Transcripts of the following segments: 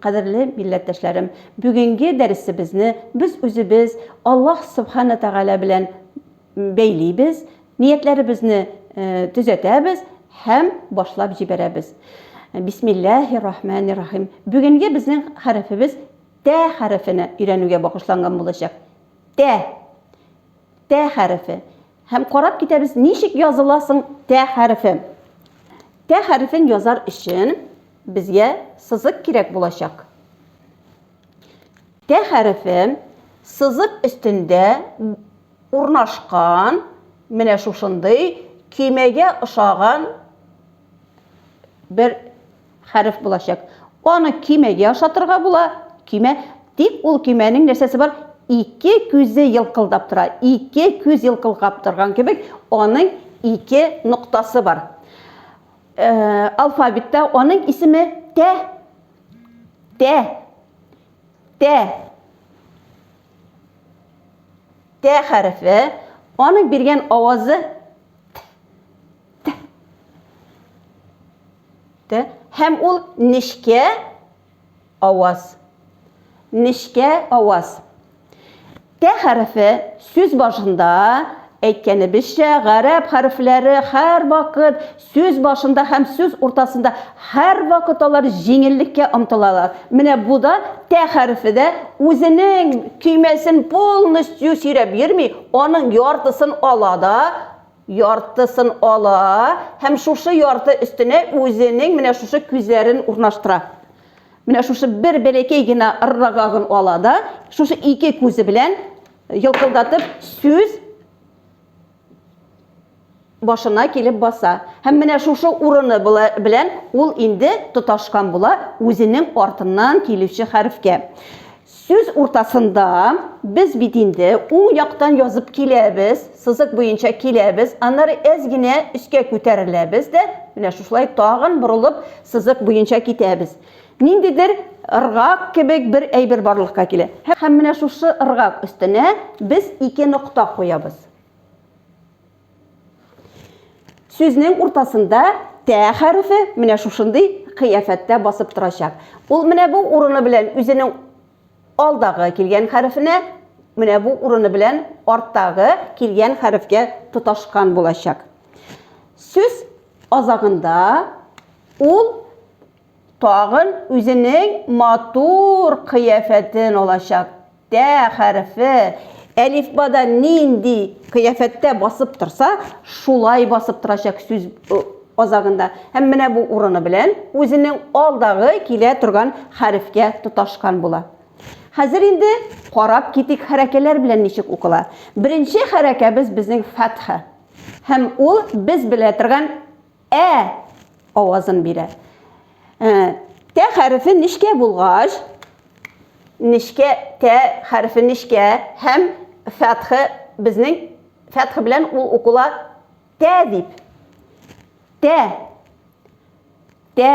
Кадерле милләттәшләрем, бүгенге дәресебезне без үзебез Аллаһ Субхана Тәгалә белән бәйлибез, ниятләребезне төзәтәбез һәм башлап җибәрәбез. Бисмиллаһи рахмани рахим. Бүгенге безнең хәрефебез тә хәрефенә өйрәнүгә багышланган булачак. Тә. Тә хәрефе. Һәм карап китәбез, ничек языла соң тә хәрефе. Тә хәрефен язар өчен безгә сызык кирәк булачак. Тә хәрефе сызык өстендә урнашкан менә шушындый көймәгә ошаган бер хәреф булачак. Аны көймәгә ошатырга була, көймә. Тик ул көймәнең нәрсәсе бар? Ике күзе елкылдап тора. Ике күз елкылгап торган кебек, аның ике ноктасы бар. Э, алфавитта аның исеме Тә. Тә. Тә. Тә хәрефе. Аның биргән авазы Тә. Һәм ул нечкә аваз. Нечкә аваз. Тә хәрефе сүз башында әйткәнебезчә, гарәп хәрефләре һәрвакыт сүз башында һәм сүз уртасында һәрвакыт алар җиңеллеккә омтылалар. Менә бу да тә хәрефе дә үзенең көймәсен полностью сөйрәп йөрми, аның яртысын ала да, яртысын ала һәм шушы ярты өстенә үзенең менә шушы күзләрен урнаштыра. Менә шушы бер бәләкәй генә ыррагагын ала да, шушы ике күзе белән йылкылдатып сүз башына килеп баса. Һәм менә шушы урыны белән ул инде тоташкан була үзенең артыннан килүче хәрефкә. Сүз уртасында, без бит инде уң яктан язып киләбез, сызык буенча киләбез, аннары әз генә өскә күтәреләбез дә, менә шушылай тагын борылып сызык буенча китәбез. Ниндидер ыргак кебек бер әйбер барлыкка килә. Һәм менә шушы ыргак өстенә без ике нокта куябыз. Сүзнең уртасында тә хәрефе менә шушындый кыяфәттә басып торачак. Ул менә бу урыны белән үзенең алдагы килгән хәрефенә, менә бу урыны белән арттагы килгән хәрефкә тоташкан булачак. Сүз азагында ул Тагын үзенең матур кыяфәтен алачак. Тә хәрефе әлифбада нинди кыяфәттә басып торса, шулай басып торачак сүз азагында. Һәм менә бу урыны белән үзенең алдагы килә торган хәрефкә тоташкан була. Хәзер инде карап китик хәрәкәләр белән ничек укыла. Беренче хәрәкәбез безнең фәтха. Һәм ул без белә торган Ә авазын бирә. Ә, тә хәрефе нечкә булгач, нечкә, тә хәрефе нечкә һәм фәтхе безнең фәтхе белән ул укыла тә дип. Тә. Тә.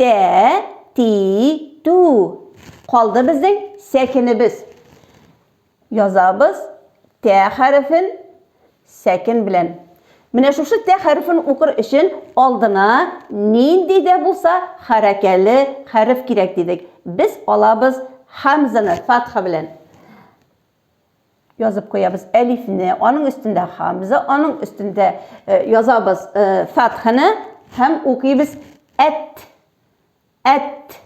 Тә-ти-ту. Калды безнең сәкенебез. Язабыз тә хәрефен сәкен белән. Менә шушы тә хәрефен укыр өчен алдына нинди дә булса хәрәкәле хәреф кирәк дидек. Без алабыз хәмзаны фатха белән. язып куябыз әлифне, аның өстендә хамза, аның өстендә э, язабыз э, фатханы һәм укыйбыз әт, әт,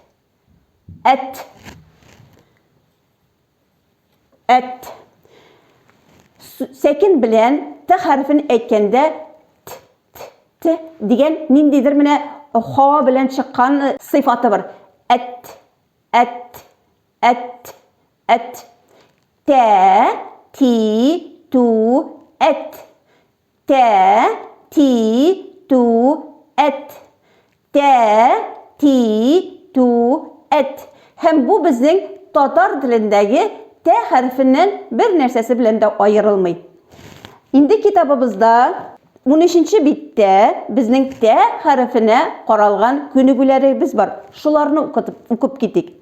әт, әт. Сәкин белән т хәрефен әйткәндә т, т, т дигән ниндидер менә хава белән чыккан сыйфаты бар. Әт, әт, Әт, әт. Тә, ти, ту, әт. Тә, ти, ту, әт. Тә, ти, ту, әт. Һәм бу безнең татар телендәге тә хәрефеннән бер нәрсәсе белән дә аерылмый. Инде китабыбызда 13 биттә безнең тә хәрефенә каралган күнегүләребез бар. Шуларны укытып, укып китик.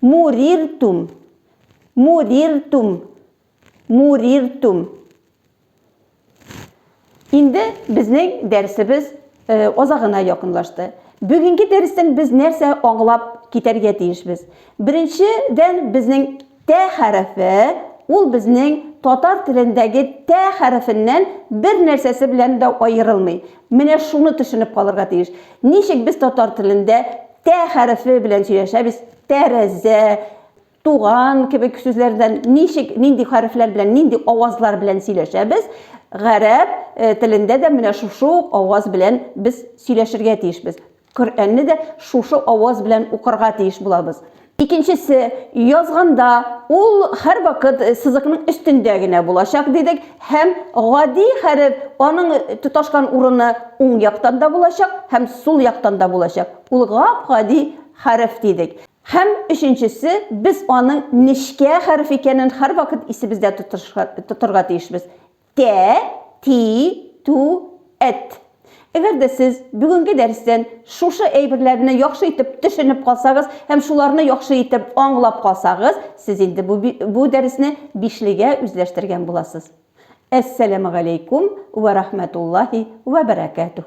Муриртум. Муриртум. Муриртум. Инде безнең дәресебез азагына якынлашты. Бүгенге дәрестән без нәрсә аңлап китәргә тиешбез? Беренчедән, безнең тә хәрефе, ул безнең татар телендәге тә хәрефеннән бер нәрсәсе белән дә аерылмый. Менә шуны төшенеп калырга тиеш. Ничек без татар телендә тә хәрефе белән сөйләшәбез, тәрәзә, туган кебек сүзләрдән ничек, нинди хәрефләр белән, нинди авазлар белән сөйләшәбез, гарәп э, телендә дә менә шушы ук аваз белән без сөйләшергә тиешбез. Коръәнне дә шушы аваз белән укырга тиеш булабыз. Икенчесе, язганда, ул һәрвакыт сызыкның өстендә генә булачак, дидек, һәм гади хәреф, аның тоташкан урыны уң яктан да булачак һәм сул яктан да булачак. Ул гап-гади хәреф, дидек. Һәм өченчесе, без аның нечкә хәреф икәнен һәрвакыт исебездә тотырга тиешбез. Тә, ти, ту, эт. Әгәр дә сез бүгенге дәрестән шушы әйберләрне яхшы итеп төшенеп калсагыз һәм шуларны яхшы итеп аңлап калсагыз, сез инде бу, бу дәресне бишлегә үзләштергән буласыз. Әссәламегаләйкүм вә рахмәтуллаһи вә бәрәкәтүһ.